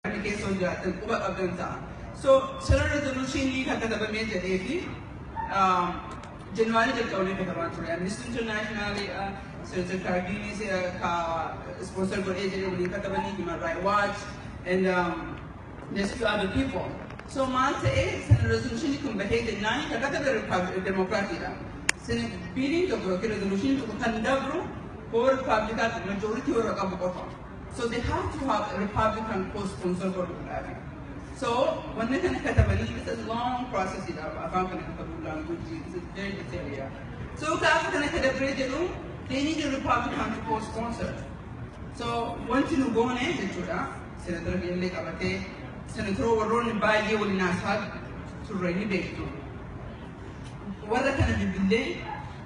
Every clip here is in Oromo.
kana keessa ol jiraattan quba qabdan ta'a. So sirna resolutionii kan katabamee jedhee fi January jalqabnee katamaa ture. Amnesty International, Senator Cardinis ka sponsor godhee jedhee waliin katabanii Human Rights Watch and um, there's few other people. So maal ta'ee sirna resolutionii kun bahee jennaan kan katabe Demokiraatiidha. Sirna biiliin tokko yookiin resolutionii tokko kan dabru hoo Ripaabilikaatti majority warra qabu qofa. So they have to have a Republican co-sponsor godhuudhaafi. So wanna kana katabanii it's a long process dha afaan kana katabuu language it's a very detailed yeah. So gaafa kana kadabree jedhu they need a Republican to co-sponsor. So wanti nu goone jechuudha senatara illee qabatee senatara warroonni baay'ee waliin haasaa turre ni beektu. Warra kana bilbilee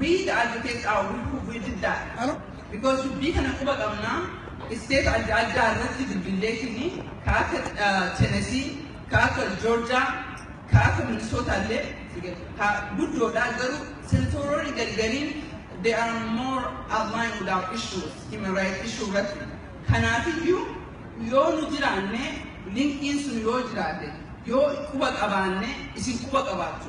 Wii da'a jetee caaw wii proof wii diddaa because dubbii kana quba qabna state adda addaa irratti bilbilleefini ka akka Tennessee ka akka Georgia ka akka Minnesota illee ka guddoodha garuu senatoroonni gargariin they are more aligned with our issues human rights issue irratti kanaafiyyuu yoo nu jiraanne linkiin sun yoo jiraate yoo quba qabaanne isin quba qabaattu.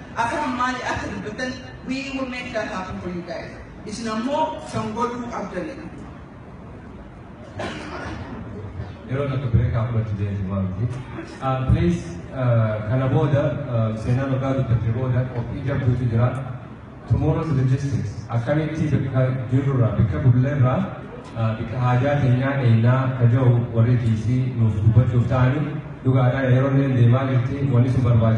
Akam mali akka dubatan we will make that happen for you guys. Isin ammoo san godhuu qabdani. Yeroo tokko break up irratti deemtu waan miti. Ah, Please ah, kana booda ah, seenaa dhugaa dubbatte booda qophii jabduutu jira. Tomorrow's logistics akkamitti bakka jirrurraa bakka bulleerraa ah, bakka haajaa keenyaa eenyaa ka jiru warri kiisii nuuf dubbachuuf ta'anii dhugaadhaa yeroo illee deemaa jirti wanni sun barbaachisu.